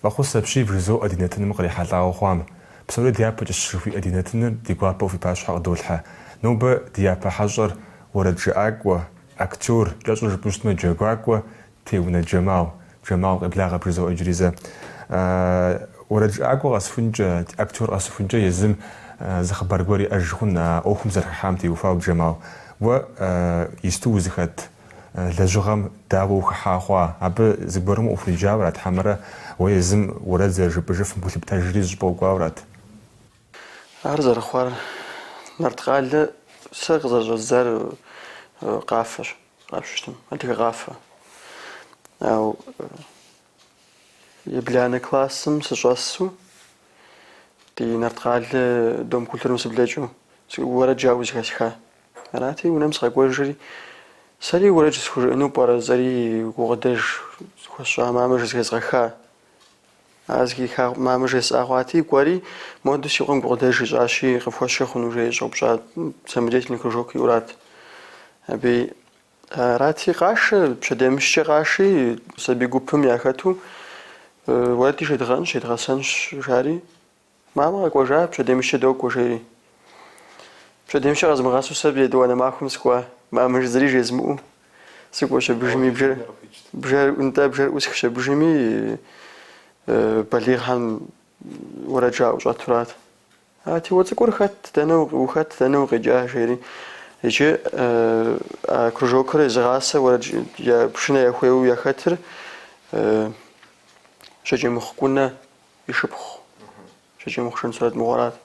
Фӏэхъус апщий, бжызоӏэ ди нэтыным кърихьэлӏауэ хъуам. Псори дяпэкӏэщ жыхуиӏэ ди нэтыныр ди гуапэу фи пащхьэ къыдолъхьэ. Нобэ ди япэ хьэщӏэр уэрэджыӏакӏуэ, Актёр, кӏэщӏу жыпӏэу щытмэ, джэгуакӏуэ, Теунэ Джэмал, Джэмал къеблагъэ бжызоӏэ иджыри зэ. Уэрэджыӏакӏуэ къэсыхункӏэ, актёр къэсыхункӏэ езым зы хъыбар гуэр иӏэж хъун а ӏуэхум зэрыхыхьам теухуауэ, Джэмал, уэ исту узыхэт лэжьыгъэм дауэ ухыхьа хъуа? Абы зыгуэрым ухуриджауэрат хьэмэрэ уэ езым уэрэд зэрыжыпӏэжыфым гу лъыптэжри зыщӏыпӏэ укӏуауэрат? Ар зэрыхъуар Нарткъалэ сэ къызэрыщӏэздзар къафэщ, къапщтэу щытмэ, адыгэ къафэ. Ау ебланэ классым сыщӏэсу ди Нарткъалэ дом культурым сыблэкӏыу уэрэд жаӏэу зыхэсха. Арати, унэм сыкъэкӏуэжри, сэри уэрэд схужыӏэну пӏэрэ, жысӏэри гукъыдэж хуэсщӏа мамэ зэхезгъэха А зыхиха мамэ жесӏа хъуати, кӏуэри, Модэ, си къуэм гукъыдэж ищӏащи, къыфхуэсшэ хъуну? жери щӏэупщӏа самодеятельный кружокыурат. Абы арати, къашэ, пщэдеймыщкӏэ къаши, сабий гупым яхэту, уэрэд жедгъэӏэнщ, едгъэсэнщ, жари. Мамэ къэкӏуэжа, пщэдеймыщкӏэ докӏуэ, жери. Пщэдеймыщкӏэ къэзмыгъэсу сэ етӏуанэ махуэм сыкӏуа, мамэ зыри жезмыӏэу сыкӏуэщ абыжыми, бжэр, бжэр, нтӏэ, бжэр ӏусхщ абыжыми, балигъхэм уэрэд жаӏэу щӏэтурат. Ати, уэ цӏыкӏур хэт, дэнэ ухэт, дэнэ укъикӏа, жери. Иджы а кружокыр езыгъасэ уэрэд я пшынэ яхуеуэу яхэтыр Жьакӏэмыхъу Кӏунэ. и шыпхъу, Жьакӏэмыхъу-Шэн Сурэт мыгъуэрат.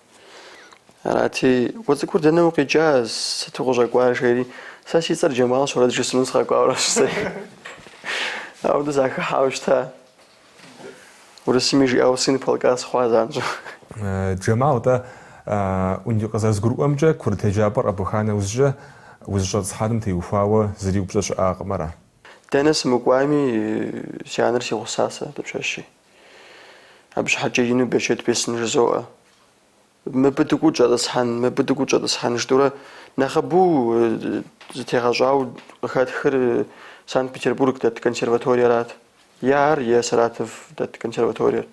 Арати, уэ цӏыкӏур дэнэ укъикӏа, сыт укъыщӏэкӏуар, жери, сэ си цӏэр Джэмалщ, уэрэд жысӏэну сыкъэкӏуауэ аращ сэ. Аудэу сахыхьауэ щыта. Урысыми жиӏауэ сын полка сыхъуа занщӏэу. Джэмал, тӏэ, къызэрызгурыӏуэмкӏэ, курыт еджапӏэр къэбуха нэужькӏэ узыщӏэтӏысхьэным теухуауэ зыри упщӏэ щыӏакъым, ара? Дэнэ сымыкӏуами, си анэр си гъусасэ, дыпщэщи. Абы щхьэкӏэ ину берычэт бесын жызоӏэ. Мыбы дыкӏуу щӏэтӏысхьэн, мыбы дыкӏуу щӏэтӏысхьэн жытӏурэ нэхъыбэу зытегъэщӏау къыхэтхыр Санкт-Петербург дэт консерваториерат. Е ар, е Саратов дэт консерваториер.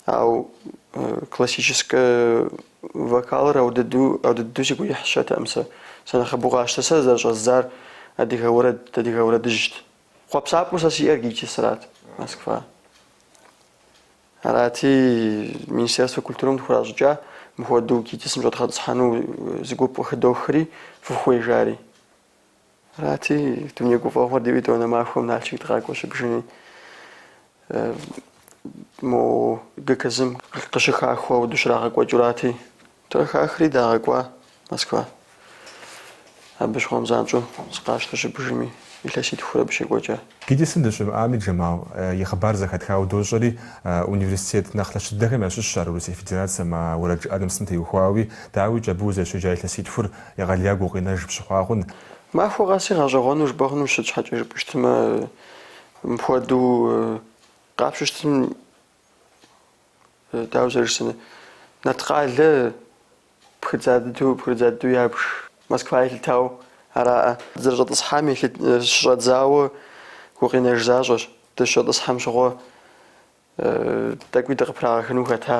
Ау классическэ вокалыр аудыдэу, аудыдэу сигу ирихьщэтэкъым сэ. Сэ нэхъыбэу къащтэ. Сэ зэрыщӏэздзар адыгэ уэрэд, адыгэ уэрэдыжьт. Хъуэпсапӏэу сэ сиӏэр ГИТИС-рат, Москва. Арати, Министерствэ культурэм дыхуращӏыкӏа мыхуэдэу ГИТИС-м щӏэдгъэтӏысхьэну зы гуп къыхыдохри, фыхуей жари. Арати, дуней гуфӏэгъуэр диӏэу етӏуанэ махуэм Налшык дыкъакӏуэ щыбжыни, мо ГКЗ-м къыщыхахыу ауэду щрагъэкӏуэкӏурати, Тӏур хахри дагъэкӏуа Москва. Абы щыгъуэм занщӏэу сыкъащтэ щыбжыми, илъэситхурэ абы щекӏуэкӏа. ГИТИС-м дыщымыӏами, Джэмал, и хъыбар зэхэтхауэ дощӏэри, университет нэхъ лъэщ дыдэхэм ящыщщ ар Урысей Федерацэм а уэрэд жыӏэным сытым теухуауи, дауикӏ, абы узэрыщеджа илъэситхур егъэлеяку гукъинэж пщыхъуагъэн. Махуэ къэси гъэщӏэгъуэну жыпӏэ хъунущ, сыт щхьэкӏэ жыпӏущтмэ, мыпхуэдэу къапщтэу щытым дауэ зэрыжысӏэн Нарткъалэ пхыдза дыдэу пхыдза дыдэу ябж Москва елъытау араӏэ. Зэрыщӏэтӏысхьами щыщӏэдзауэ гукъинэж защӏэщ, дыщӏэтӏысхьэм щыгъуэ тӏэкӏуи дыкъыпрагъэхыну хэта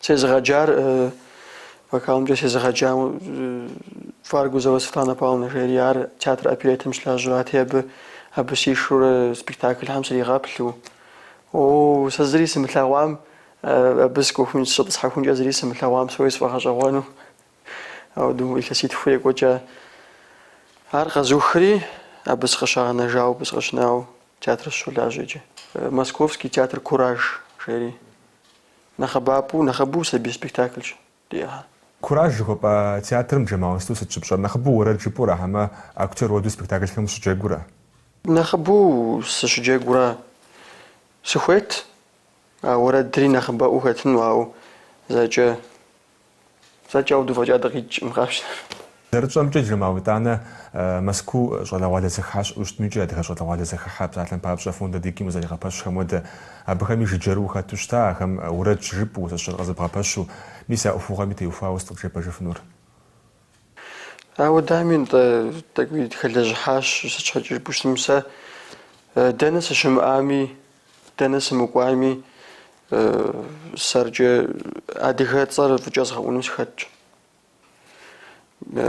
Сезыгъэджар вокалымкӏэ сезыгъэджар Варгузова Светлана Павловна жери, ар театр оперетым щылажьэрати, абы абы сишурэ спектаклхэм сригъэплъу. О, сэ зыри сымылъэгъуам, абы сыкӏуэхун, сыщӏэтӏысхьэхункӏэ зыри сымылъэгъуам псори сфӏэгъэщӏэгъуэну. Ауду илъэситху екӏуэкӏа. Ар къэзухри, абы сыкъыщагъэнэжауэ, абы сыкъыщынауэ театр сыщолажьэ иджы. Московский театр Кураж жери. Нэхъыбапӏэу, нэхъыбэу сабий спектаклщ диӏэхэр. Кураж жыхуэпӏэ театрым Джэмал, уэ сыту, сыт щыпщӏэр? Нэхъыбэу уэрэд жыпӏэу ара хьэмэ актер уэду спектаклхэм ущыджэгуу ара? Нэхъыбэу сыщыджэгуу ара. Сыхуейт, а уэрэдри нэхъыбэӏуу хэтыну, ауэ зэкӏэ Зэкӏэ ауэду фӏэкӏа дыкъикӏкъым къапщтэмэ. Зэрытщӏэмкӏэ, Джэмал, уэ итӏанэ Мэзкуу щӏалэгъуалэ зэхыхьэ щыӏэу щытми, икӏи адыгэ щӏалэгъуалэ зэхыхьэ псалъэм папщӏэ фонд Адыгим къызэригъэпэщхэм хуэдэ, абыхэми жыджэрыу ухэту щыта, ахэм уэрэд щыжыпӏэу, зэӏущӏэр къызэбгъэпэщу, мис а ӏуэхугъуэми теухуауэ сыт къытжепӏэжыфынур? Ауэ дами нтӏэ, тӏэкӏуи дыхэлэжьыхьащ, сыт щхьэкӏэ жыпӏущтым сэ, дэнэ сыщымыӏами, дэнэ сымыкӏуами, сэркӏэ адыгэ цӏэр фӏыкӏэ згъэӏуну сыхэтщ.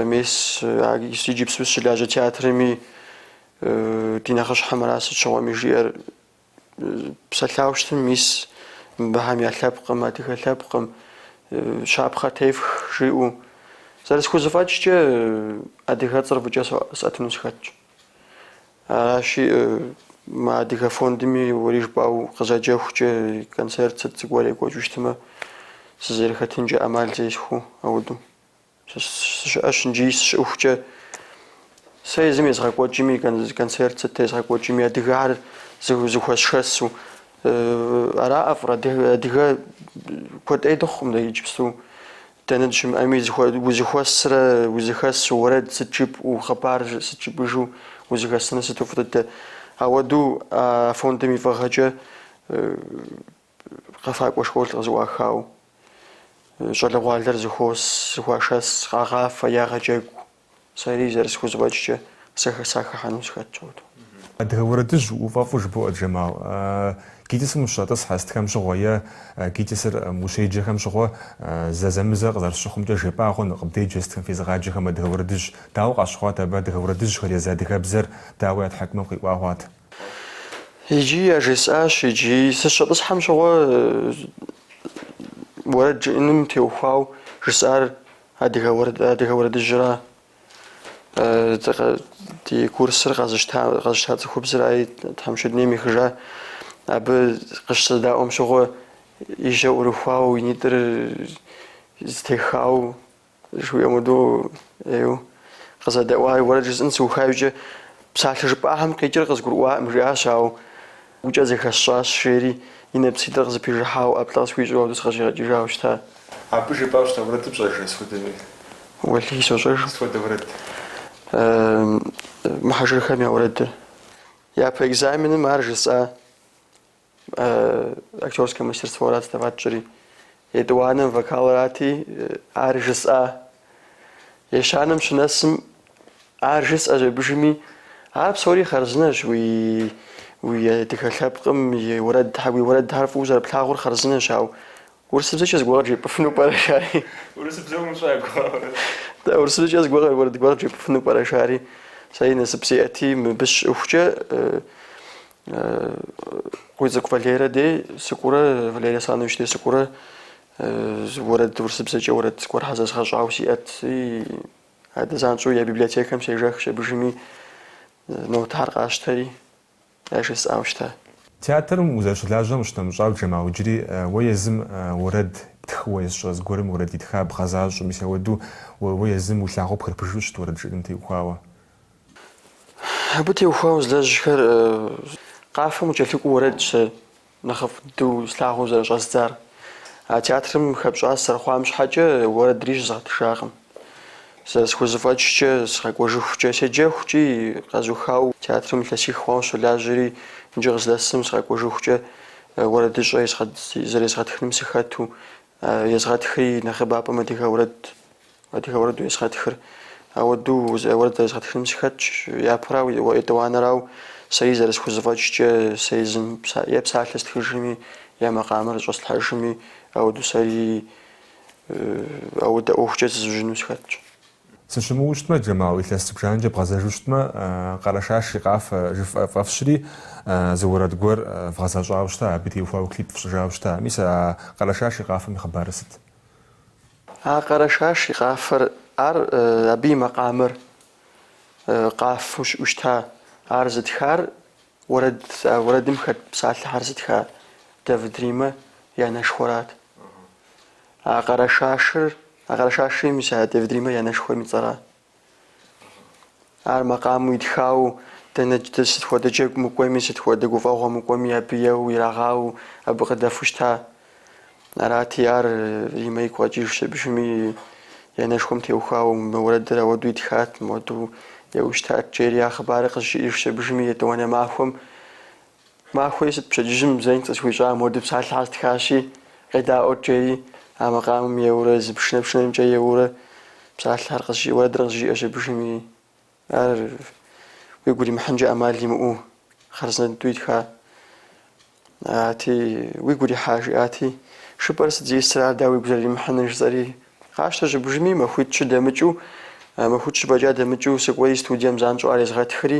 Мес иджыпсту сыщылажьэ театрми ди нэхъыщхьэм ара сыт щыгъуэми жиӏэр. Псэлъау щытым мис мыбыхэм я лъэпкъым, адыгэ лъэпкъым, щапхъэ тефх жиӏэу. Зэрысхузэфӏэкӏкӏэ, адыгэцӏэр фӏыкӏэ сӏэтыну сыхэтщ. Аращи, мы адыгэ фондми уэри жыпӏау къызэджэхукӏэ, концерт сыт зыгуэр екӏуэкӏыу щытмэ, сызэрыхэтынкӏэ ӏэмал зесхуэу ауэду. Сыщыӏэщ иджи сыщыӏэхукӏэ. Сэ езым езгъэкӏуэкӏми, концерт сыт езгъэкӏуэкӏми, адыгэр зыхуэсшэсу. Ара ӏэфӏыр, адыгэ куэд ӏей дыхъукъым дэ иджыпсту. Дэнэ дыщымыӏэми, узэхуэсрэ узэхэсу уэрэд сыт жыпӏэу, хъыбар сыт жыпӏыжу узэхэсыныр сыту фӏы дыдэ. Ауэдэу а фондым и фӏыгъэкӏэ Къэфакӏуэ школ къызэӏуахау, щӏалэгъуалэр зыхуос, зыхуашэс, къагъафэ, ягъэджэгу. Сэри зэрысхузэфӏэкӏкӏэ сахэхьэну сыхэтщ ауэдэу. Адыгэ уэрэдыжь уфӏэфӏу жыбоӏэ, Джэмал. ГИТИС-м ущыщӏэтӏысхьэ сытхэм щыгъуэ е ГИТИС-м ущеджэхэм щыгъуэ зэзэмызэ къызэрысщыхъумкӏэ яжепӏагъэну къыбдеджэ сытхэм фезыгъаджэхэм адыгэ уэрэдыжь дауэ къащыхъуат абы адыгэ уэрэдыжьхэр езы адыгэбзэр дауэ я тхьэкӏумэм къиӏуагъуат. Иджи яжесӏащ, иджи сыщыщӏэтӏысхьэм щыгъуэ уэрэд жыӏэным теухуау жысӏар адыгэ уэрэд, адыгэ уэрэдыжьра, ди курсыр къэзыщта, къэзыщта цӏыхубзырай тхьэмыщкӏэ, дунейм ехыжа, абы къыщызэдаӏуэм щыгъуэ и жьэ ӏурыхуау и нитӏыр зэтехау Жыхуиӏэм хуэдэу ӏейуэ къызэдэӏуари, уэрэд жысӏэн сыуха иужькӏэ, псалъэ жыпӏахэм къикӏыр къызгурыӏуакъым, жиӏащ, ауэ гукӏэ зэхэсщӏащ, жери и нэпситӏыр къызэпижыхьауэ, ӏэплӏэ къысхуищӏу ауэдэу сыкъыщӏигъэкӏыжауэ щыта. Абы жыпӏауэ щыта уэрэдыр пщӏэжрэ, сыт хуэдэ? Уэлэхьи, сощӏэж. Сыт хуэдэ уэрэд? Мухьэжырхэм я уэрэдыр. Япэ экзаменым ар жысӏа. Актерскэ мастерстворат сдавать тщӏыри, етӏуанэм вокалрати, ар жысӏа. Ещанэм щынэсым, ар жысӏащ абыжми, ар псори хъарзынэщ уи уи адыгэ лъэпкъым и уэрэд, уи уэрэдхэр фӏыуэ зэрыплъагъур хъарзынэщ, ауэ урысыбзэкӏэ зыгуэр къыджепӏыфыну пӏэрэ, жари? Урысыбзэ умыщӏакӏуэ. Дэ урысыбзэкӏэ зыгуэр уэрэд гуэр къыджепӏыфыну пӏэрэ, жари? Сэри насып сиӏэти, мыбы сыщыӏэхукӏэ Къуийцӏыкӏу Валерэ дей сыкӏуурэ, Валерий Асланович дей сыкӏуурэ уэрэд урысыбзэкӏэ уэрэд гуэрхэ зэзгъэщӏауэ сиӏэти, адэ занщӏэу я библиотекэм сежэхщ абыжыми нотэр къасщтэри, ар жысӏауэ щыта. Театрым узэрыщылажьэм къыщынэмыщӏауэ Джэмал иджыри уэ езым уэрэд птхыуэ е сщӏэ, зыгуэрым уэрэд итха бгъэзащӏэу, мис ауэду уэ езым уи лъагъуэ пхырыпшыжу ущыт уэрэд жыӏэным теухуауэ. Абы теухуауэ узэлэжьхэр. Къафэм кӏэлъыкӏуэу уэрэдщ нэхъыфӏ дыдэу слъагъуу зэрыщӏэздзар. А театрым хэпщӏа сызэрыхъуам щхьэкӏэ уэрэдри щызгъэтыжакъым. Зэрысхузэфӏэкӏкӏэ, сыкъэкӏуэжыхукӏэ седжэхукӏи, къэзухауэ театрым илъэсих хъуауэ сыщолажьэри, иджы къыздэсым сыкъэкӏуэжыхукӏэ уэрэдыщӏэ зэрезгъэтхыным сыхэту, езгъэтхри нэхъыбапӏэм адыгэ уэрэд Адыгэ уэрэду езгъэтхыр. Ауэдэу уэрэд зэрезгъэтхыным сыхэтщ, япэрау е етӏуанэрау, сэри зэрысхузэфӏэкӏкӏэ, сэ езым е псалъэ стхыжми, е макъамэр зыщӏэслъхьэжми, ауэдэу сэри ауэдэ ӏуэхукӏэ зызужьыну сыхэтщ. Сыщымыуэу щытмэ, Джэмал, илъэс зыбжанэкӏэ бгъэзэжу щытмэ, Къэрэшаш и къафэ жыфӏэ фӏэфщри, зы уэрэд гуэр вгъэзэщӏауэ щыта, абы теухуауэ клип фщӏыжауэ щыта. Мис а Къэрэшаш и къафэм и хъыбарыр сыт? А Къэрэшаш и къафэр, ар абы и макъамэр къафэу щыӏэу щыта. Ар зытхар уэрэд, а уэрэдым хэт псалъэхьэр зытха Давыд Римэ и анэшхуэрат. А Къэрэшашыр, а Къэрэшашри мис а Давыд Римэ и анэшхуэм и цӏэра. Ар макъамэу итхауэ, дэнэкӏи сыт хуэдэ джэгу мыкӏуэми, сыт хуэдэ гуфӏэгъуэ мыкӏуэми абы еуэу ирагъауэу абы къыдэфу щыта. Арати, ар Римэ игу къэкӏыж щыбжми, и анэшхуэм теухуауэ мы уэрэдыр ауэду итхат, мыуэду еуэу щытат, жери а хъыбарыр къызжиӏэж щыбжми, етӏуанэ махуэм Махуи сыт пщэдджыжьым зэи къысхуищӏа мыуэду псалъэхьэр стхащи, къедаӏуэт жери, а макъамэм еуурэ зы пшынэ пшынэмкӏэ еуурэ псалъэхьэр къызжи уэрэдыр къызжиӏэ щыбжым и ар уигу уримыхьынкӏэ ӏэмал имыӏэу хъарзынэ дыдэу итха ати уигу урихьа жиӏати жыпӏэр сыт зисыр ар дауэ уигу зэрыримыхьыныр жысӏэри къащтэ щыбжми махуитӏ-щы дэмыкӏыу махуитӏ-щы фӏэкӏа дэмыкӏыу сыкӏуэри студием занщӏэу ар езгъэтхри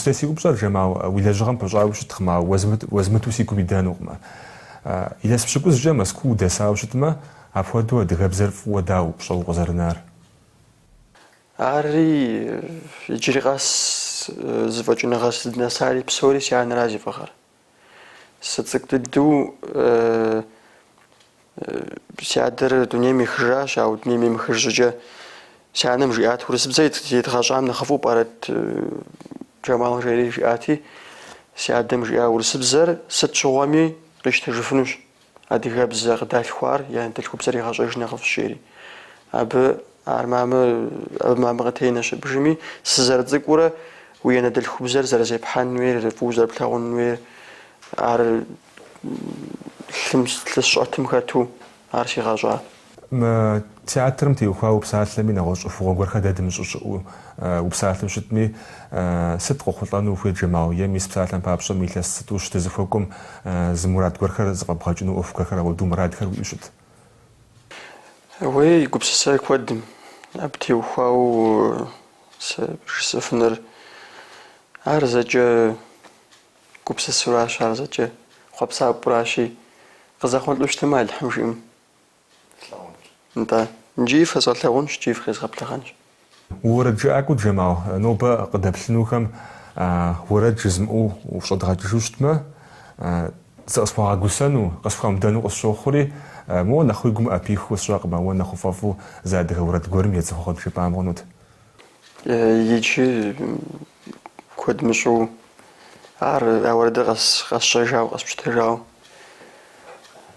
Иджыпстурей си упщӏэр, Жэмал, уи лэжьыгъэм пыщӏауэ щыткъым, ауэ уэзмыту си гум идэнукъымэ. Илъэс пщыкӏузкӏэ Мэзкуу удэсауэ щытмэ, апхуэдэу адыгэбзэр фӏыуэ дауэ пщӏэуэ укъызэрынар? Арри, иджыри къэс зэфӏэкӏыныгъэ сыздынэсари псори си анэра зи фӏыгъэр. Сыцӏыкӏу дыдэу си адэр дунейм ехыжащ, ауэ дунейм емыхыж щӏыкӏэ си анэм жиӏат, урысыбзэр едгъэщӏам нэхъыфӏу пӏэрэт? Джамал жери жиӏати, си адэм жиӏа урысыбзэр сыт щыгъуэми къищтэжыфынущ. Адыгэбзэ къыдалъхуар и анэдэлъхубзэр егъэщӏэж нэхъыфӏ жери. Абы ар мамэ, абы мамэ къытенэ щыбжыми, сызэрыцӏыкӏуурэ уи анэдэлъхубзэр зэрызепхьэн хуейр, фӏыуэ зэрыплъагъун хуейр, ар лъым, лъы сщӏэтым хэту ар сигъэщӏа. Мы театрым теухуа упсалъэми, нэгъуэщӏ ӏуэхугъуэ гуэрхэр дэ дымыщӏэу щыӏэу упсалъэу щытми, сыт къохъулӏэну ухуейт Джэмал? Е мис псалъэм папщӏэ мы илъэс зытӏущ дызыхуэкӏуэм зы мурад гуэрхэр зэфӏэбгъэкӏыну ӏуэху гуэрхэр ауэду мурадхэр уиӏэу щыт? Уей, гупсысай куэдым. Абы теухуауэ сэ жысӏэфынур ар зэкӏэ гупсысуращ, ар зэкӏэ хъуэпсапӏуращи, къызэхъулӏэу щытмэ, Алыхьым жиӏэм. слъэгъунщ. Нтӏэ, иджы фэзгъэлъагъунщ, икӏи фыкъезгъэблэгъэнщ. Уэрэд жыӏакӏуэ Джэмал, нобэ къыдэплъынухэм уэрэд жызмыӏэу ущӏэдгъэкӏыжу щытмэ, зыкъысхуагъэгусэну, къысхуамыдэну къысщохъури, моуэ нэхъ уи гум ӏэпихыу сщӏэкъым, уэ нэхъ уфӏэфӏу зы адыгэ уэрэд гуэрым едзыгъуэ къыджепӏам хъунут. Иджы куэд мыщӏэу ар а уэрэдыр къэсщӏэжауэ, къэспщытэжауэ.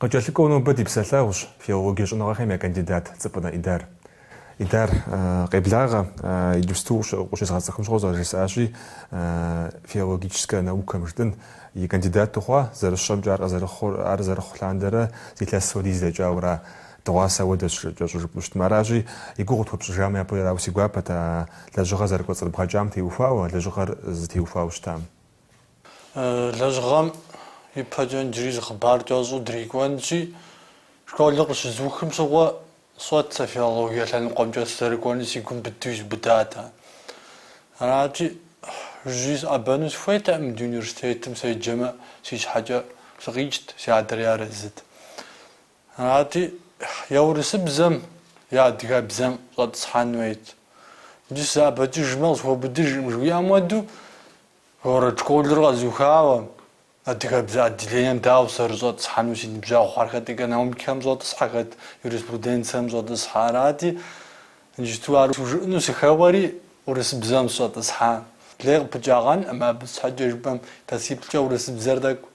Къыкӏэлъыкӏуэу нобэ ди псэлъэгъущ филологие щӏэныгъэхэм я кандидат Цӏыпӏынэ Идар. Идар, къеблагъэ, иджыпсту укъыщезгъэцӏыхум щыгъуэ зэрыжысӏащи, филологическэ наукэм жытӏэн и кандидат ухъуа, зэрысщӏэмкӏэ ар къызэрыхъур, ар зэрыхъу лъандэрэ зы илъэс хуэдиз дэкӏауэ ара, дыгъуасэ хуэдэщ кӏэщӏу жыпӏэу щытмэ. Аращи, и гугъу тхуэпщӏыжамэ япэрауэ си гуапэт а лэжьыгъэр зэрыкӏуэцӏрыбгъэкӏам теухуауэ, лэжьыгъэр зытеухуауэ щытам. Лэжьыгъэм ипэкӏэ иджыри зы хъыбар кӏэщӏу дрикӏуэнщи, школыр къыщызухым щыгъуэ сщӏэт сэ филологие лъэныкъуэмкӏэ сызэрыкӏуэнур си гум быдыу изубыдат. Арати, жыжьэ сыӏэбэну сыхуейтэкъым ди университетым, седжэмэ си щхьэкӏэ сыкъикӏт, си адэри арэзыт. Арати, е урысыбзэм е адыгэбзэм щӏэтӏысхьэн хуейт. Иджы сызэӏэбэкӏыжмэ, къысхуэубыдыжкъым жыхуиӏэм хуэдэу, город школыр къэзухауэ, адыгэбзэ отделением дауэ сызэрыщӏэтӏысхьэну си ныбжьэгъухэр? Хэт экономикэм щӏэтӏысхьэ, хэт юриспруденцием щӏэтӏысхьэ? Арати, иджыпсту ар схужыӏэну сыхэуэри, урысыбзэм сыщӏэтӏысхьа. Лей къыпыкӏагъэнкъым абы, щхьэкӏэ жыпӏэм, илъэсиплӏкӏэ урысыбзэр тӏэкӏу.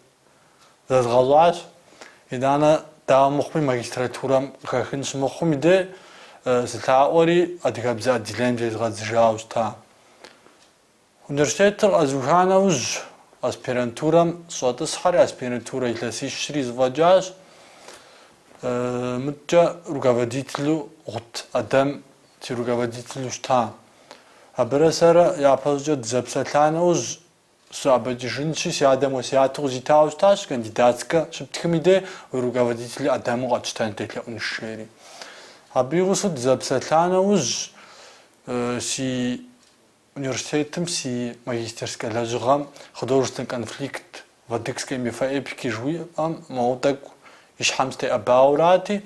зэзгъэщӏащ. Итӏанэ, дауэ мыхъуми, магистратурэм къыхэхын щымыхъум и деж сылъаӏуэри адыгэбзэ отделением зезгъэдзыжауэ щыта. Университетыр къэзыуха нэужь, аспирантурэм сыщӏэтӏысхьэри, аспирантурэ илъэсищри зэфӏэкӏащ. Мыдкӏэ руководителу Гъут Ӏэдэм си руководителу щыта. Абырэ сэрэ япэщӏыкӏэ дызэпсэлъа нэужь, Сыӏэбэкӏыжынщи, си адэм уэсяту къызитауэ щытащ, кандидатскэ щыптхым и дей уи руководитель Ӏэдэму къэтщтэн делъэӏунщ, жери. Абы и гъусэу дызэпсэлъа нэужь, си университетым си магистерскэ лэжьыгъэм Художественный конфликт в адыгской мифоэпике жыуиӏэм моуэ тӏэкӏу и щхьэм сытеӏэбауэрати,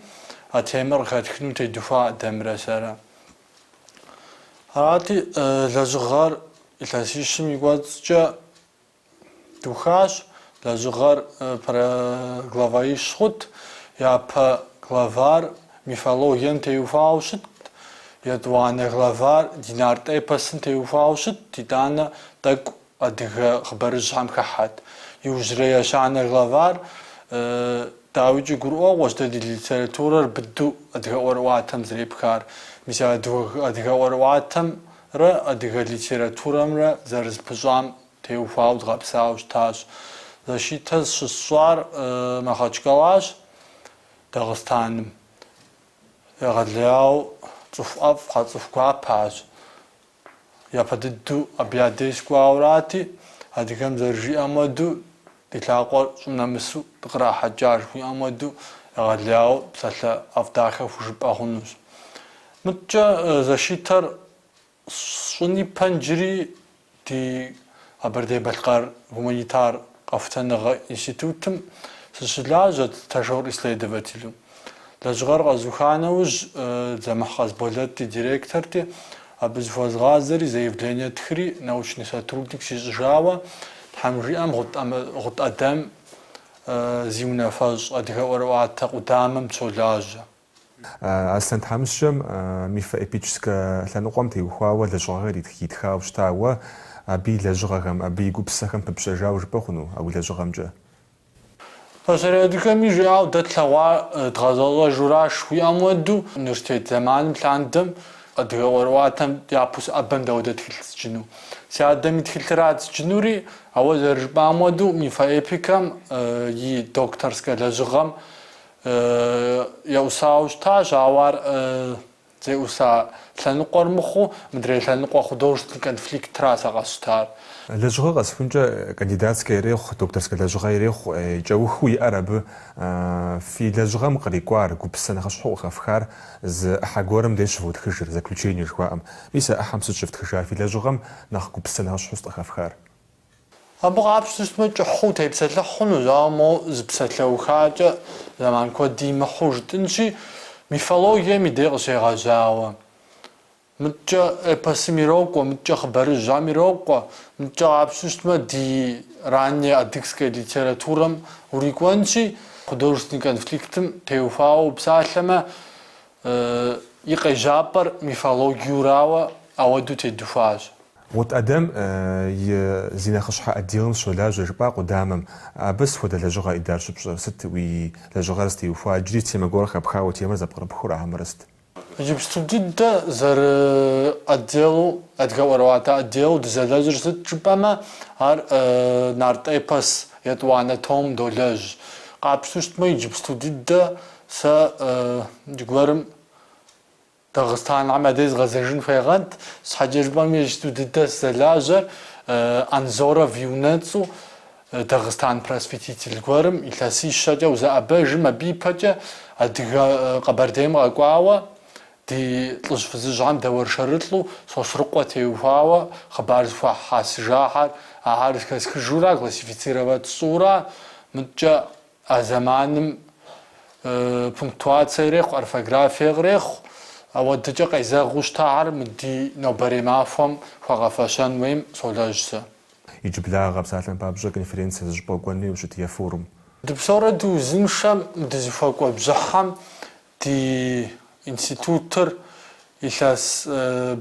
а темэр къыхэтхыну тедухуа Ӏэдэмрэ сэрэ. Арати, лэжьыгъэр илъэсищым и кӏуэцӏкӏэ духащ, лэжьыгъэр про главаищ хъут, япэ главар мифологием теухуауэ щытт, етӏуанэ главар ди нарт эпосым теухуауэ щытт, итӏанэ тӏэкӏу Адыгэ хъыбарыжьхэм хыхьэт. Иужьрей ещанэ главар, дауикӏи, гурыӏуэгъуэщ дэ ди литературэр быдэу адыгэ ӏуэрыӏуатэм зэрепхар. Мис а адыгэ ӏуэрыӏуатэмрэ адыгэ литературэмрэ зэрызэпыщӏам теухуауэ дгъэпсауэ щытащ. Защитэ щысщӏар Махъэчкалащ, Дагъыстаным. Егъэлеяуэ цӏыху ӏэфӏхэ, цӏыху гуапэщ. Япэ дыдэу абы я деж сыкӏуауэрати, адыгэм зэрыжиӏэм хуэдэу, Ди лъакъуэр щӏым нэмысу дыкърахьэкӏа жыхуиӏэм хуэдэу, егъэлеяуэ псалъэ ӏэфӏ дахэ хужыпӏэ хъунущ. Мыткӏэ защитэр сщӏын ипэ иджыри, ди. Къэбэрдей-Балъкъэр гуманитар къэхутэныгъэ институтым сыщылажьэт стажёр-исследователу. Лэжьыгъэр къэзуха нэужь, Дзэмыхь Къасболэт ди директорти, абы зыхуэзгъазэри, заявление стхри, научный сотрудник сищӏыжауэ, тхьэм жиӏэм, Гъут Ӏэдэм зи унафэщӏ адыгэ ӏуэрыӏуатэ къудамэм сыщолажьэ. Аслъэн тхьэмыщкӏэм мифоэпическэ лъэныкъуэм теухуауэ лэжьыгъэхэр итхауэ щыта, уэ абы и лэжьыгъэхэм, абы и гупсысэхэм пыпщэжауэ жыпӏэ хъуну а уи лэжьыгъэмкӏэ? Пасэрей адыгэми жиӏауэ дэ тлъэгъуа дгъэзэщӏэжуращ жыхуиӏэм уэду университет зэманым лъандэм адыгэ ӏуэрыӏуатэм япэу сыӏэбэм дауэ тхылъ сджыну, си адэм и тхылъырат сджынури, ауэ зэрыжыпӏам уэду мифоэпикэм и докторскэ лэжьыгъэм Еӏусауэ щытащ, ауэ ар зеӏуса лъэныкъуэр мыхъуу, мыдрей лъэныкъуэ художественный конфликтращ сэ къэсщтар. Лэжьыгъэ къэсыхункӏэ кандидатскэ ирехъу, докторскэ лэжьыгъэ ирехъу, кӏэухыу иӏэр абы. Фи лэжьыгъэм кърикӏуар, гупсысэ нэхъыщхьэу къыхэфхар зы ӏыхьэ гуэрым дей щывотхыжыр, заключение жыхуаӏэм. Мис а ӏыхьэм сыт щыфтхыжар, фи лэжьыгъэм нэхъ гупсысэ нэхъыщхьэу сыт къыхэфхар? Абы къапщту щытмэ, кӏыхьу утепсэлъыхь хъунущ, ауэ моуэ зы псалъэухакӏэ зэман куэд имыхьу жытӏынщи, мифологием и дей къыщегъэжьауэ. Мыткӏэ эпосым ирокӏуэ, мыткӏэ хъыбарыжьхэм ирокӏуэ, мыткӏэ къапщту щытмэ, ди ранней адыгской литературэм урикӏуэнщи, художественный конфликтым теухуауэ упсалъэмэ, и къежьапӏэр мифологиерауэ ауэдэу тедухуащ. Гъут Ӏэдэм зи нэхъыщхьэ отделым сыщолажьэ, жыпӏа къудамэм. Абы сыт хуэдэ лэжьыгъэ Идар щыпщӏэр сыт, уи лэжьыгъэр зытеухуа иджыри темэ гуэр хэпхауэ темэр зэпкърыпхыу ара хьэмэрэ сыт? Иджыпсту дыдэ зэрыотделу, адыгэ ӏуэрыӏуатэ отделу дызэлэжьыр сыт жыпӏэмэ, ар нарт эпос етӏуанэ том долэжь. Къапщту щытмэ, иджыпсту дыдэ Сэ зыгуэрым Дагъыстанхэм адэ згъэзэжын хуегъэнт, щхьэкӏэ жыпӏэм иджыпсту дыдэ сызэлажьэр Анзоров и унэцӏу Дагъыстан просветитель гуэрым илъэсищэкӏэ узэӏэбэжым, абы ипэкӏэ Адыгэ Къэбэрдейм къэкӏуауэ ди лӏыжь фызыжьхэм дэуэршэрылӏу Сосрыкъуэ теухуауэ хъыбар зэхуахьэсыжахэр ахэр зэхэсхыжурэ, классифицировать сщӏыурэ, мыткӏэ А зэманым пунктуацие ирехъу, орфографие кърехъу. Ауэдыкӏэ къезэгъыу щытахэр мы ди нобэрей махуэм хуэгъэфэщэн хуейм солэжь сэ. Иджыблагъэ псалъэм папщӏэ конференцэ зы щӏыпӏэ укӏуэну ущыт е форум. Дыпсэурэ дыузыншэм дызыхуэкӏуэ бжьыхьэм Ди институтыр илъэс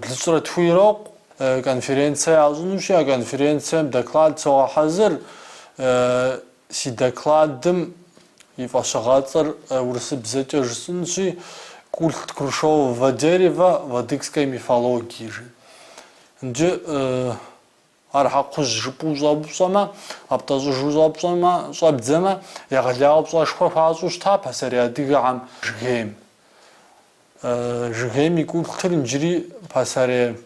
блыщӏрэ тху ирокъу конференцэ ящӏынущи, а конференцэм доклад согъэхьэзыр. Си докладым и фӏэщыгъэцӏэр урысыбзэкӏэ жысӏынщи, Культ грушевого дерева в адыгской мифологии жи. Иджы Ар щхьэ кхъужь жыпӏэу ущӏэупщӏэмэ, къэптӏэщӏыжу щӏэпщӏэмэ, щӏэбдзэмэ, егъэлауэ пщӏэшхуэ хуащӏу щыта пасэрей адыгэхэм? Жыгейм. Жыгейм и култыр иджыри пасэрей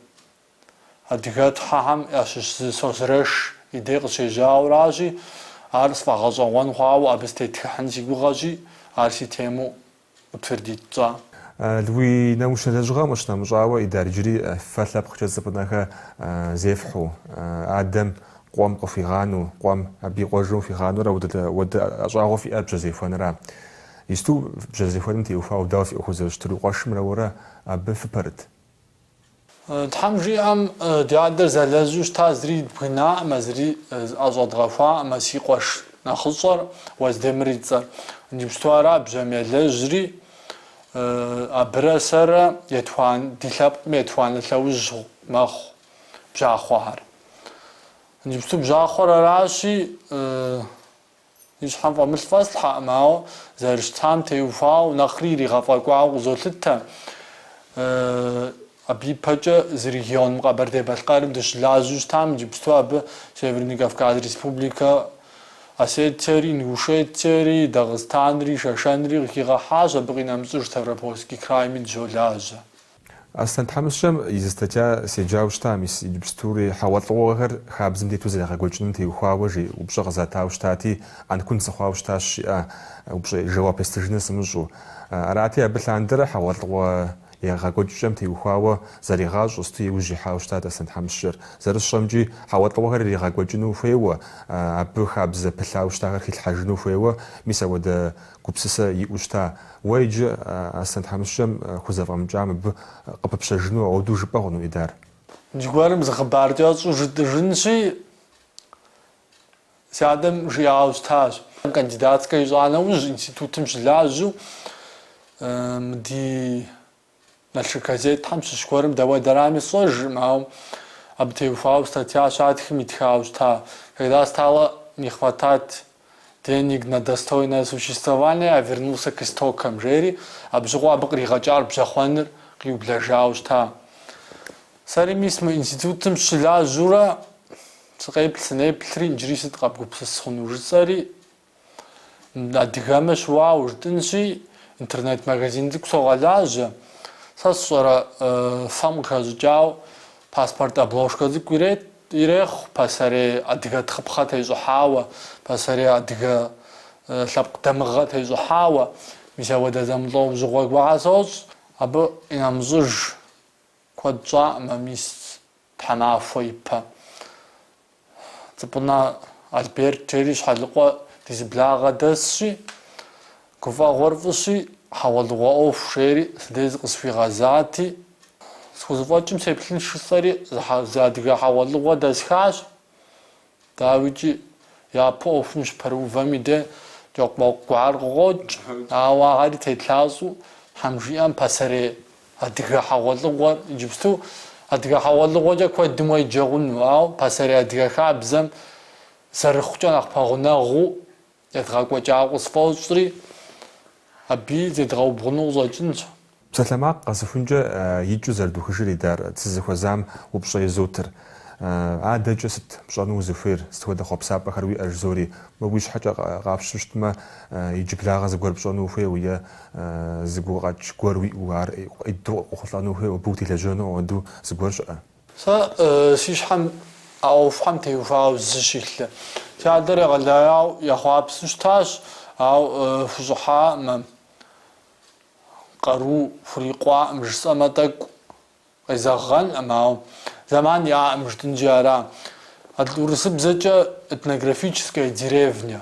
адыгэтхьэхэм ящыщ зы Созрэш и дей къыщежьауэращи, ар сфӏэгъэщӏэгъуэн хъуауэ абы сытетхыхьын си гугъэщи, ар си темэу утвердить тщӏа? Уи научнэ лэжьыгъэм къыщынэмыщӏауэ, Идар иджыри фэ лъэпкъкӏэ цӏыкӏунэхэр зефхьу, адэм къуэм къыхуигъану, къуэм абы и къуэжым хуигъанурэ ауэдэ ӏэщӏагъэ фиӏэр бжьэзехуэнра. Исту бжьэзехуэным теухуауэ дауэ фи ӏуэху зэрыщытыр, уи къуэшымрэ уэрэ абы фыпэрыт? Тхьэм жиӏэм, ди адэр зэлэжьу щыта зыри дбгынаӏымэ, зыри зыӏэщӏэдгъэхуаӏымэ, си къуэш нэхъыщӏэр, Уэздемыр и цӏэр. Иджыпсту ара бжьэм елэжьри, абырэ сэрэ етхуанэ, ди лъэпкъми етхуанэ лъэужь мэхъу бжьахъуэхэр. Иджыпсту бжьахъуэр аращи, И щхьэм фӏэмылъ фӏэслъхьэкъым, ауэ зэрыщытам теухуауэ нэхъри иригъэфӏэкӏуауэ къызолъытэ. Абы ипэкӏэ зы регионым, Къэбэрдей-Балъкъэрым дыщылажьэу щытам, иджыпсту абы Северный Кавказ Республикэ, Осетиери, Ингушетиери, Дагъыстанри, Шэшэнри къыхигъэхьащ, абы къинэмыщӏыж Ставропольский крайми дыщолажьэ. Аслъэн тхьэмыщкӏэм и зы статья седжауэ щытам, мис иджыпстури хьэгъуэлӏыгъуэхэр хабзэм тету зэрегъэкӏуэкӏыным теухуауэ жи упщӏэ къызатауэ щытати, ӏэнкун сыхъуауэ щытащ, жиӏэ упщӏэ жэуап естыжыныр сымыщӏэу. Арати, абы лъандэрэ хьэгъуэлӏыгъуэ егъэкӏуэкӏкӏэм теухуауэ зэригъащӏэ сыту иужь ихьауэ щытат Аслъэн тхьэмыщкӏэр. Зэрысщӏэмкӏи, хьэгъуэлӏыгъуэхэр иригъэкӏуэкӏыну хуейуэ, абы хабзэ пылъауэ щытахэр хилъхьэжыну хуейуэ, мис апхуэдэ Гупсысэ иӏэу щыта? Уэ иджы Аслъэн тхьэмыщкӏэм хузэфӏэмыкӏам абы къыпыпщэжыну ауэдэу жыпӏэ хъуну Идар? Иджы гуэрым зы хъыбар кӏэщӏу жытӏыжынщи, си адэм жиӏауэ щытащ. Кандидатскэ ищӏа нэужь, институтым щылажьэу ди Налшык газетхэм щыщ гуэрым дауэдэрами сщӏэжыркъым, ауэ абы теухуауэ статья щатхым итхауэ щыта, Когда стало не хватать денег на достойное существование, я вернулся к истокам, жери, абы щыгъуэ абы къригъэкӏар бжьэхъуэныр къиублэжауэ щыта. Сэри мис мы институтым щылажьэурэ сыкъеплъ-сынеплъри, иджыри сыт къэбгупсыс хъуну жысӏэри, Адыгэмэ щыуауэ жытӏынщи, интернет-магазин цӏыкӏу согъэлажьэ. Сэ сщӏэрэ фэм къыхэщӏыкӏауэ паспорт обложкэ цӏыкӏу ирет, ирехъу пасэрей адыгэ тхъыпхъэ тещӏыхьауэ, пасэрей адыгэ лъэпкъ дамыгъэ тещӏыхьауэ. Мис апхуэдэ зэмылӏэужьыгъуэ гуэрхэр сощӏ, абы къинэмыщӏыж Куэд щӏаӏымэ мис тхьэмахуэ ипэ. Цӏыпӏынэ Альберт жери Щхьэлыкъуэ ди зы благъэ дэсщи, гуфӏэгъуэр фӏыщи, хьэгъуэлӏыгъуэ ӏуэху жери си дей зыкъысхуигъэзати, схузэфӏэкӏым сеплъынщ жысӏэри зы адыгэ хьэгъуэлӏыгъуэ дэсхащ. Дауикӏи, япэ ӏуэхум щыпэрыувэм и дей кӏэкъумэкъу гуэр къыкъокӏ, ауэ ари тетлъащӏэу Тхьэм жиӏэм пасэрей адыгэ хьэгъуэлӏыгъуэр иджыпсту адыгэ хьэгъуэлӏыгъуэкӏэ куэдым уеджэ хъуну, ауэ пасэрей адыгэ хабзэм зэрыхъукӏэ нэхъ пэгъунэгъуу Едгъэкӏуэкӏа къысфӏощӏри, абы зедгъэубгъуну къыщӏэкӏынщ. Псалъэмакъ къэсыхункӏэ икӏыу зэрыдухыжыр идар сызыхуэзам упщӏэ изотыр. Адэкӏэ сыт пщӏэну узыхуейр, сыт хуэдэ хъуэпсапӏэхэр уиӏэ жызори, уэ уи щхьэкӏэ къапщу щытмэ, иджыблагъэ зыгуэр пщӏэну ухуейуэ е зы гукъэкӏ гуэр уиӏэу ар уэду къохъулӏэну ухуейуэ, абы утелэжьэну ауэдэу зыгуэр щыӏэ? Сэ си щхьэм а ӏуэхухьэм теухуауэ зы щылъэ. Си адэр егъэлеяуэ ехъуапсэу щытащ, ауэ хущӏыхьаӏым, къару хурикъуаӏым жысӏэмэ тӏэкӏу къезэгъэнӏым, ауэ зэман иӏаӏым жытӏэнщи ара. Атӏэ урысыбзэкӏэ этнографическая деревня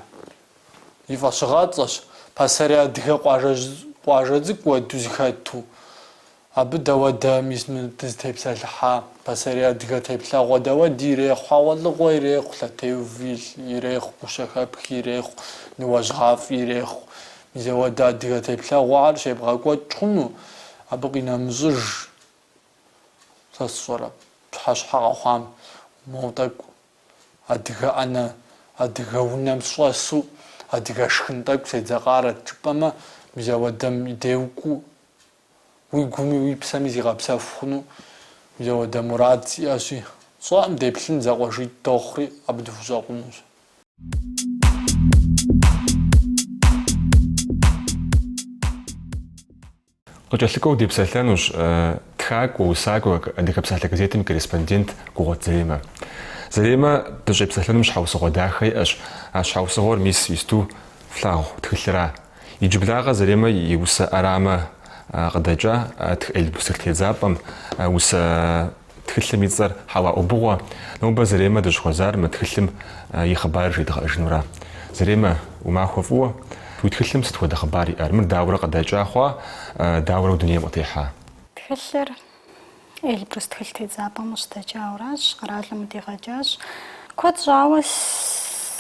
и фӏэщыгъэцӏэщ, пасэрей адыгэ къуажэ цӏыкӏу уэду зыхэту. Абы дауэдэ мис мы дызытепсэлъыхьа пасэрей адыгэ теплъэгъуэ дауэди ирехъу хьэгъуэлӏыгъуэ ирехъу, лъэтеув ирехъу, гущэхэпх ирехъу, ныуэжьгъафӏ ирехъу. Мис ауэдэ адыгэ теплъэгъуэхэр щебгъэкӏуэкӏ хъуну? Абы къинэмыщӏыж сэ сщӏэрэ, пщыхьэщхьэ къэхъуам? Моу тӏэкӏу адыгэ ӏэнэ, адыгэ унэм сщӏэсу адыгэ шхын тӏэкӏу седзэкъарэт жыпӏэмэ, мис ауэдэм и де укӏуэу Уи гуми уи псэми зигъэпсэху хъуну мис ауэдэ мурад сиӏэщи, сщӏэӏым деплъын зэкъуэшитӏ дохъури абы дыхущӏэкъунущ. Къыкӏэлъыкӏуэу депсэлъэнущ тхакӏуэ, усакӏуэ Адыгэ псалъэ газетым и корреспондент Гугъуэт Заремэ. Заремэ, дыщӏепсэлъэнум щхьэусыгъуэ дахэ иӏэщ. А щхьэусыгъуэр мис исту флъагъу тхылъра? Иджыблагъэ Заремэ и усэ ӏэрамэ къыдэкӏа тх Эльбрус тедзапӏэм, усэ тхылъым и цӏэр Хьэуа ӏубыгъуэ. Нобэ Заремэ дыщӏыхуэзар мы тхылъым и хъыбарыр жедгъэӏэжынура? Заремэ, уи махуэ фӏыуэ. Уи тхылъым сыт хуэдэ хъыбар иӏэр? Мыр дауэрэ къыдэкӏа хъуа, дауэрэ дунейм къытехьа? Тхылъыр Эльбрус тхылъ тедзапӏэм къыщыдэкӏауращ, къэралым къыдигъэкӏащ. Куэд щӏауэ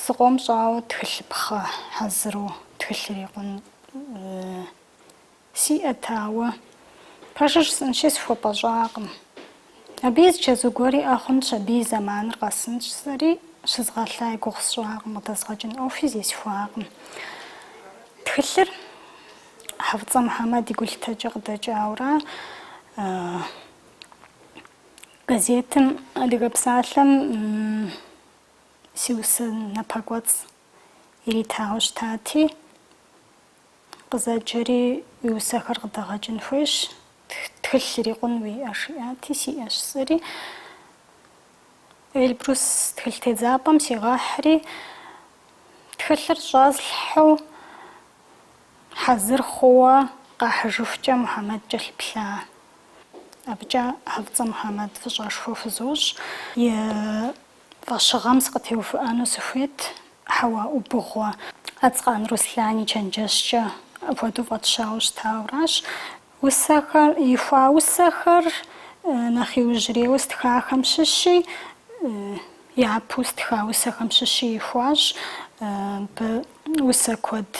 сыкъом щӏауэ тхылъыпхъэ хьэзыру тхылъ ирикъун сиӏэт, ауэ пэжыр жысӏэнщи сыхуэпӏэщӏакъым. Абы и зы чэзу гуэр иӏэ хъунщ, абы и зэманыр къэсынщ, сэри щызгъэлъа и гугъу сщӏакъым, къыдэзгъэкӏын ӏуэхуи зесхуакъым. Тхылъыр. Хьэфӏыцӏэ Мухьэмэд и гулъытэкӏэ къыдэкӏаура газетым Адыгэ псалъэм си усэ напэкӏуэцӏ иритауэ щытати, къызэджэри уи усэхэр къыдэгъэкӏын хуейщ, тхылъ ирикъун уиӏэ, жиӏати, сиӏэщ сэри. Эльбрус тхылъ тедзапӏэм сигъэхьри, Тхылъыр щӏэслъхьэу хьэзыр хъууэ къахьыжыхукӏэ Мухьэмэд кӏэлъыплъа. Абыкӏэ Хьэфӏыцӏэ Мухьэмэд фӏыщӏэшхуэ хузощӏ. И фӏэщыгъэм сыкъытеувыӏэну сыхуейт, Хьэуа ӏубыгъуэ. Ацкъан Руслан и чэнджэщкӏэ апхуэдэу фӏэтщауэ щытауэращ. Усэхэр, ихуа усэхэр нэхъ иужьрейуэ стхахэм щыщи, япэу стха усэхэм щыщи ихуащ. Абы усэ куэд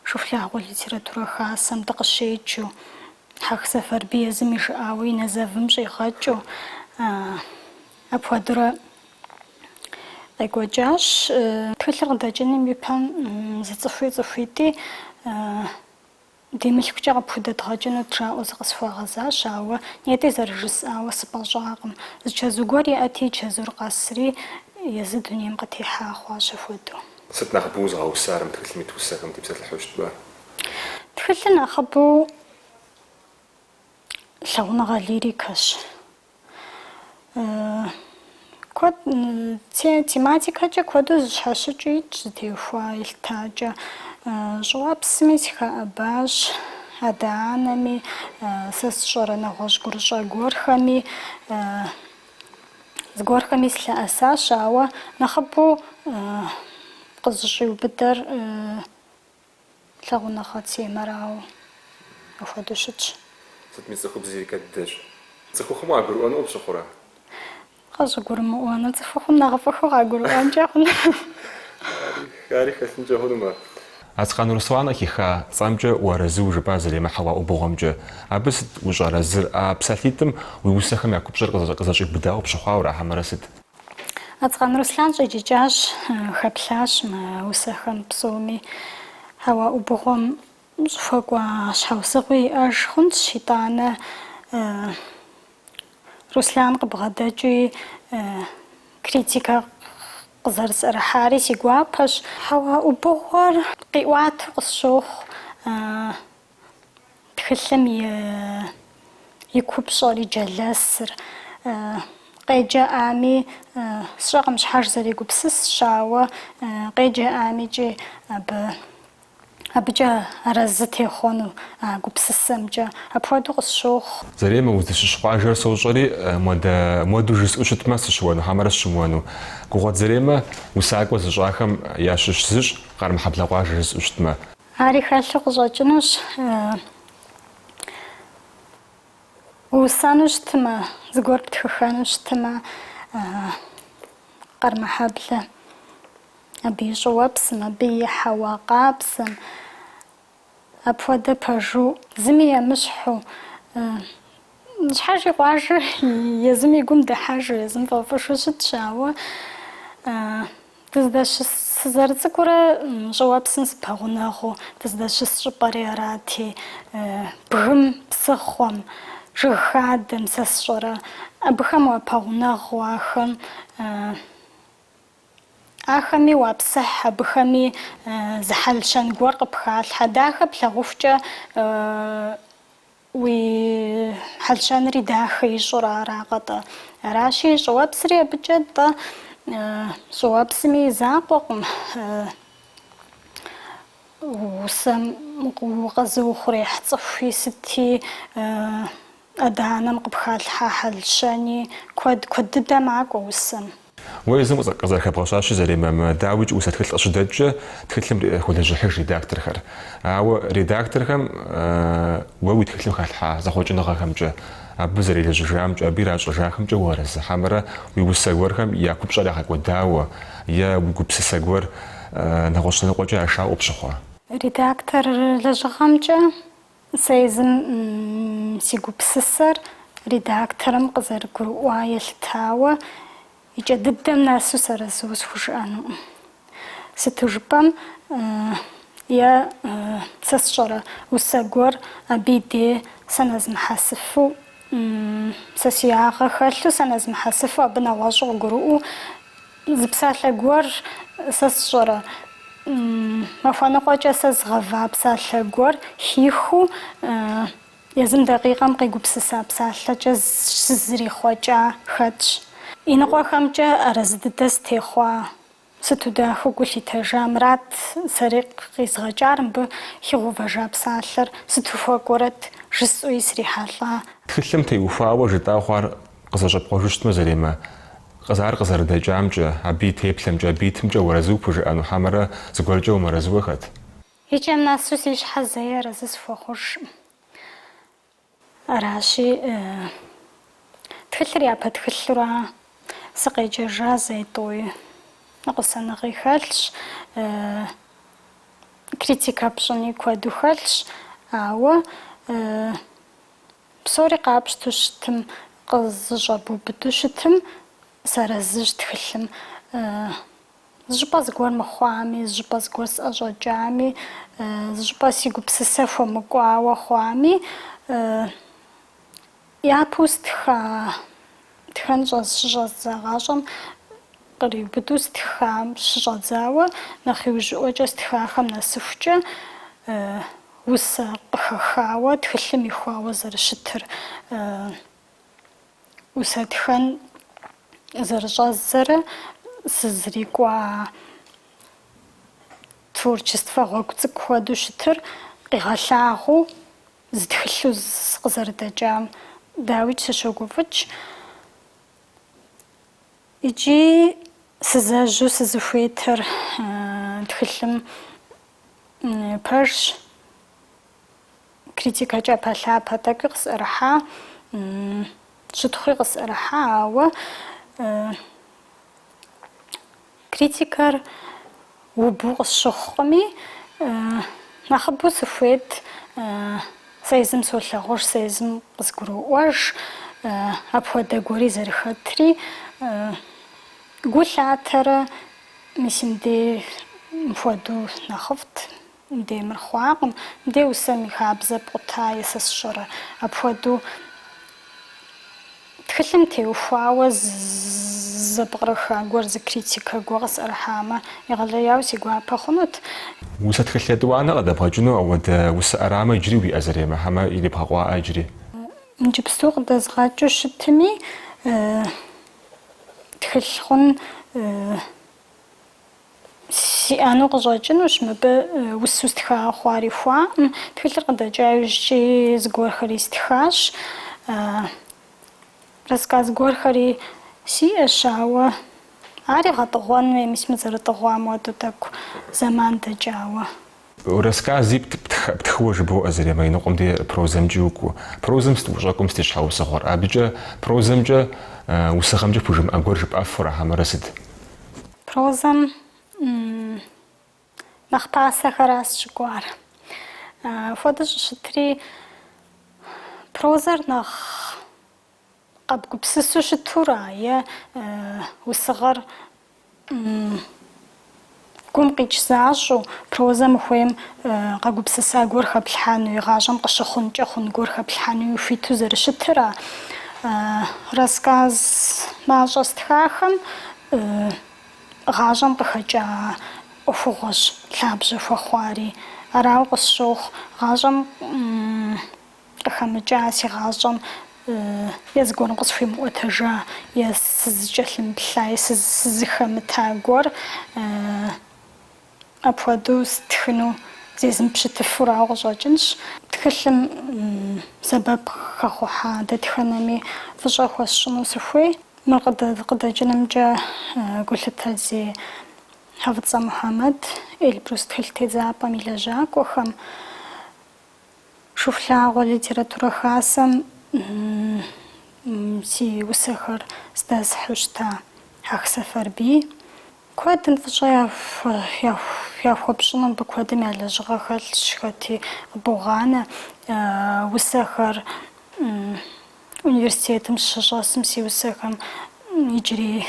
Шыхулъагъуэ литературэ хасэм дыкъыщеджэу, Хьэх Сэфарбий езым и жыӏауэ и нэзэвым щӏигъэкӏыу, апхуэдэурэ къекӏуэкӏащ. Тхылъыр къыдэкӏыным и пэм зы цӏыхуи цӏыхуитӏи. Ди мылъкукӏэ къыпхудэдгъэкӏынут жаӏэу зыкъысхуагъэзащ, ауэ нетӏи зэрыжысӏауэ сыпӏэщӏакъым. Зы чэзу гуэр иӏэти, чэзур къэсри, езы дунейм къытехьа хъуащ апхуэдэу. Сыт нэхъыбэу узыгъэусар мы тхылъым ит усэхэм дытепсэлъыхьу щытмэ? Тхылъыр нэхъыбэу лъагъуныгъэ лирикэщ. Куэд тематикэкӏэ куэду зыщхьэщыкӏыу итщ зытеухуа елъытакӏэ. Щӏыуэпсми сыхэӏэбащ, адэ-анэми, сэ сщӏэрэ нэгъуэщӏ гурыщӏэ гуэрхэми. Зыгуэрхэми сылъэӏэсащ, ауэ нэхъыбэу къызыщӏиубыдэр Лъагъуныгъэ темэрауэ, апхуэдэу щытщ. Сытми цӏыхубз лирикэ дыдэщ. Цӏыхухъум къагурыӏуэну пщыхъурэ? Къыщӏыгурымыӏуэну. Цӏыхухъум нэхъыфӏыххэу къагурыӏуэнкӏэ хъуну. Ари хэлъынкӏэ хъунумэ. Ацкъан Руслан къыхиха цӏэмкӏэ уарэзыу жыпӏа, Заремэ, Хьэуа ӏубыгъуэмкӏэ, абы сыт ущӏэарэзыр? А псалъитӏым уи усэхэм я купщӏэр къызэщӏиубыдауэ пщыхъуауэ ара, хьэмэрэ сыт? Ацкъан Руслан щӏиджыкӏащ, хэплъащ мы усэхэм псоми. Хьэуа ӏубыгъуэм щӏыхуэкӏуа щхьэусыгъуи иӏэж хъунщ, итӏанэ Руслан къыбгъэдэкӏуи критикэ къызэрысӏэрыхьари си гуапэщ. Хьэуа ӏубыгъуэр къиӏуату къысщохъу. Тхылъым и купщӏэр, и джэлэсыр къеджэӏами, сщӏэкъым щхьэж зэрегупсысщ, ауэ къеджэӏамикӏи абы, абыкӏэ арэзы техъуэну а гупсысэмкӏэ. Апхуэдэу къысщохъу. Заремэ, узыщыщ къуажэр сощӏэри, модэ, моду жысӏэу щытмэ, сыщыуэну, хьэмэрэ сыщымыуэну? Гугъуэт Заремэ усакӏуэ зыщӏахэм ящыщ зыщ Къармэхьэблэ къуажэ жысӏэу щытмэ. Ари хэлъу къыщӏэкӏынущ. Усэну щытмэ, зыгуэр птхыххэну щытмэ, Къэрмэхьэблэ, абы и щӏыуэпсым, абы и хьэуа къабзэм, апхуэдэ пэжу, зыми емыщхьу, Щхьэж и къуажэр езым и гум дыхьэжу, езым фӏэфӏыжу щытщ, ауэ дыздэщыс сызэрыцӏыкӏурэ щӏыуэпсым сыпэгъунэгъуу, дыздэщыс щӏыпӏэри арати, бгым, псыхъуэм, жыг хадэм, сэ сщӏэрэ, абыхэм уапэгъунэгъуу, ахэм, ахэми уапсыхь, абыхэми зы хьэл-щэн гуэр къыпхалъхьэ, дахэ плъагъухукӏэ Уи хьэл-щэнри дахэ ищӏурэ аракъэ-тӏэ? Аращи, щӏыуэпсри абыкӏэ-тӏэ? Щӏыуэпсми и закъуэкъым усэм укъэзыухъуреихь цӏыхуи, сыти адэ-анэм къыпхалъхьа хьэл-щэни. Куэд, куэд дыдэ макӏуэ усэм. Уэ езым къызэрыхэбгъэщащи, Заремэ, дауикӏ усэ тхылъ къыщыдэкӏкӏэ тхылъым холэжьыхьыж редакторхэр. Ауэ редакторхэм уэ уи тхылъым халъхьа зэхъуэкӏыныгъэхэмкӏэ, абы зэрелэжьыжамкӏэ, абы иращӏэжахэмкӏэ уарэзы хьэмэрэ уи усэ гуэрхэм я купщӏэр ягъэкӏуэдауэ е уи гупсысэ гуэр нэгъуэщӏ лъэныкъуэкӏэ ашауэ къыпщыхъуа? Редактор лэжьыгъэмкӏэ Сэ езым си гупсысэр редакторым къызэрыгурыӏуа елъытауэ, и кӏэ дыдэм нэсу сарэзу схужыӏэнукъым. Сыту жыпӏэм, е сэ сщӏэрэ усэ гуэр абы и де сэ нэзмыхьэсыфу, сэ си ягъэ хэлъу сэ нэзмыхьэсыфу абы нэгъуэщӏу къыгурыӏуэу, Зы псалъэ гуэр сэ сщӏэрэ? Махуэныкъуэкӏэ сэ згъэва псалъэ гуэр хихыу езым дакъикъэм къегупсыса псалъэкӏэ щызэрихъуэкӏа хэтщ. Иныкъуэхэмкӏэ арэзы дыдэ сытехъуа, сыту дахэу гу лъитэжа Мурат сэри къизгъэкӏар мыбы хигъэувэжа псалъэр сыту хуэкӏуэрэт жысӏэуи срихьэлӏа. Тхылъым теухуауэ жытӏа хъуар Къызэщӏэпкъуэжу щытмэ Заремэ, ар къызэрыдэкӏамкӏэ, абы и теплъэмкӏэ, абы итымкӏэ уарэзыу пхужыӏэну, хьэмэрэ зыгуэркӏэ умыарэзыуэ хэт? Икӏэм нэсу си щхьэ зэи арэзы сыхуэхъужкъым. Аращи, тхылъыр япэ тхылъура, сыкъеджэжа зэи тӏуи, ныкъусаныгъи хэлъщ, критикэ пщӏыни куэду хэлъщ, ауэ Псори къапщту щытым, къызыщӏэбубыду щытым, сарэзыщ тхылъым. Зыщӏыпӏэ зыгуэр мыхъуами, зыщӏыпӏэ зыгуэр сӏэщӏэкӏами, зыщӏыпӏэ си гупсысэ хуэмыкӏуауэ хъуами, япэу стха. Тхэн щӏэз-щыщӏэздза гъащӏэм къриубыду стхам щыщӏэдзауэ, нэхъ иужьыӏуэкӏэ стхахэм нэсыхукӏэ усэ къыхэхауэ тхылъым ихуауэ зэрыщытыр, усэ тхэн зэрыщӏэздзэрэ сызрикӏуа творчествэ гъуэгу цӏыкӏу хуэдэу щытыр къигъэлъагъуу Зы тхылъу сыкъызэрыдэкӏам, дауикӏ, сыщогуфӏыкӏ. Икӏи сызэжьу сызыхуейтэр тхылъым пэжщ, критикэ кӏапэлъапэ тӏэкӏуи къысӏэрыхьа, щытхъуи къысӏэрыхьа, ауэ Критикэр убу къысщыхъукъыми, нэхъыбэу сыхуейт, сэ езым солъагъуж, сэ езым къызгуроӏуэж, апхуэдэ гуэри зэрыхэтри, гу лъатэрэ мис мыбдеж мыпхуэдэу нэхъыфӏт. Де мыр хъуакъым, де усэм и хабзэ пкъута е сэ сщӏэрэ? Апхуэдэу тхылъым теухуауэ зэпкърыха гуэр зы критикэ гуэ къысӏэрыхьамэ, егъэлеяуэ си гуапэ хъунут. Усэ тхылъ етӏуанэ къыдэбгъэкӏыну ауэдэ усэ ӏэрамэ иджыри уиӏэ Заремэ, хьэмэ ирибгъэкъуаӏэ иджыри. Иджыпсту къыдэзгъэкӏыу щытми, тхылъ хъун. Сиӏэну къыщӏэкӏынущ мыбы усу стхауэ хъуар ихуаӏым. Тхылъыр къыдэкӏа иужькӏи зыгуэрхэри стхащ. Рассказ гуэрхэри сиӏэщ, ауэ ари гъэтӏыгъуэн хуей, мис мыр зэрытӏыгъуам хуэдэу тӏэкӏу зэман дэкӏауэ. Расскази птхыуэ жыбоӏэ Заремэ, иныкъуэм де прозэмкӏи укӏуу. Прозэм сыт ущӏэкӏуэм сыт и щхьэусыгъуэр? Абыкӏэ прозэмкӏэ, усыгъэмкӏэ пхужымыӏэ гуэр жыпӏэфу ара хьэмэрэ сыт? Прозэм нэхъ пасэхэращ сыщыкӏуар. Апхуэдэу щӏыщытри прозэр нэхъ. Къэбгупсысу щытура е усыгъэр гум къикӏ защӏу, прозэм ухуейм къэгупсыса гуэр хэплъхьэнуи, гъащӏэм къыщыхъункӏэ хъун гуэр хэплъхьэнуи хуиту зэрыщытыра? Рассказ мащӏэ стхахэм гъащӏэм къыхэкӏа ӏуэхугъуэщ лъабжьэ хуэхъуари. Арауэ къысщохъу, гъащӏэм Къыхэмыкӏа си гъащӏэм е зыгуэрым къысхуимыӏуэтэжа, е сызыкӏэлъымыплъа, е сызыхэмыта гуэр апхуэдэу стхыну зезмыпщытыфу арауэ къыщӏэкӏынщ. Тхылъым сэбэп хэхъухьа дэтхэнэми фӏыщӏэ хуэсщӏыну сыхуей. Мыр къыдэкӏынымкӏэ гулъытэ зи Хьэфӏыцӏэ Мухьэмэд, Эльбрус тхылъ тедзапӏэм и лэжьакӏуэхэм. Шыхулъагъуэ литературэ хасэм си усэхэр здэсхьу щыта Хьэх Сэфарбий. Куэдым фӏыщӏэ яхуэпщӏыну мыбы куэдым я лэжьыгъэ хэлъщ, хэти къыбогъанэ. Усэхэр университетым сыщыщӏэсым си усэхэм иджыри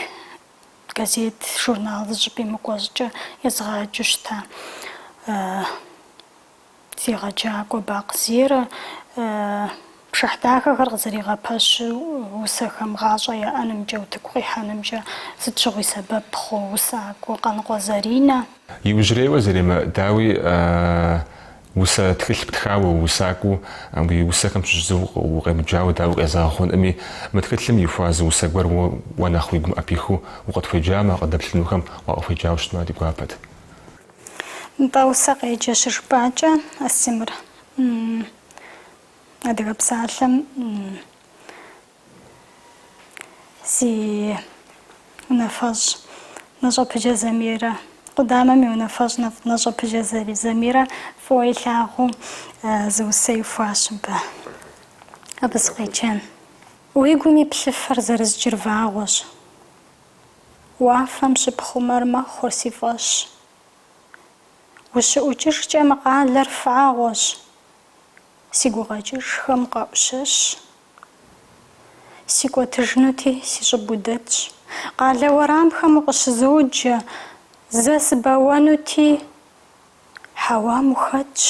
газет, журнал зыщӏыпӏи мыкӏуэ щӏыкӏэ езгъаджэу щыта. Си егъэджакӏуэ Бакъ Зерэ, пшыхь дахэхэр къызэригъэпэщу усэхэм гъащӏэ яӏэнымкӏэ, утыку къихьэнымкӏэ сыт щыгъуи сэбэп хъу усакӏуэ Къаныкъуэ Заринэ. Иужьрейуэ Заремэ, дауи, усэ тхылъ птхауэ, усакӏуэу уи усэхэм щыщ зы укъемыджауэ дауи къезэгъ хъункъыми, мы тхылъым ихуа зы усэ гуэр уэ нэхъ уи гум ӏэпихыу укъытхуеджамэ, къыдэплъынухэм уакъыхуеджауэ щытмэ ди гуапэт. Нтӏэ, усэ къеджэ щыжыпӏакӏэ, а си мыр Адыгэ псалъэм си унафэщӏ Нэщӏэпыджэ Замирэ, къудамэм и унафэщӏ Нэщӏэпыджэ Замирэ фӏыуэ илъагъуу зы усэ ихуащ мыбы. Абы сыкъеджэн. Уи гум и плъыфэр зэрызджыр вагъуэщ. Уафэм щыпхъумэр мэхъур си фӏэщ. Ущыӏукӏыжкӏэ мы къалэр фагъуэщ. Си гукъэкӏыжхэм къэӏущэщ. Сикӏуэтыжынути, си щӏыб удэтщ. Къалэ уэрамхэм укъыщызоджэ, зэ сыбэуэнути, хьэуам ухэтщ.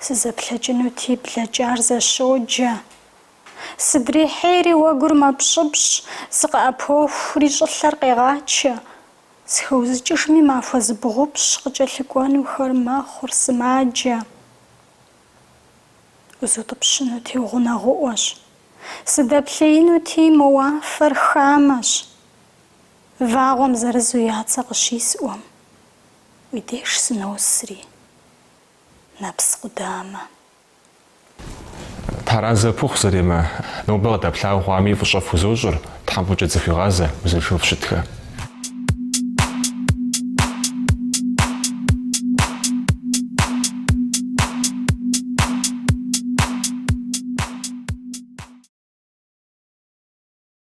Сызэплъэкӏынути, блэкӏар зэщоджэ. Сыдрихьейри уэгур мэпщӏыпщӏ, сыкъыӏэпохури щӏылъэр къегъачэ. Схэузыкӏыжми махуэ зыбгъупщ къыкӏэлъыкӏуэнухэр мэхъур сымаджэ. Узутӏыпщынути угъунэгъуӏуэщ. Сыдэплъеинути мо уафэр хамэщ. Вагъуэм зырызу я цӏэ къыщисӏуэм, уи деж сыносри, нэпс къудамэ. Таразэ пыхъу зэремэ, нобэ къыдэплъа хъуами фӏыщӏэ фхузощӏыр, Тхьэм фӏыкӏэ дызэхуигъазэ, узыншэу фщытхэ.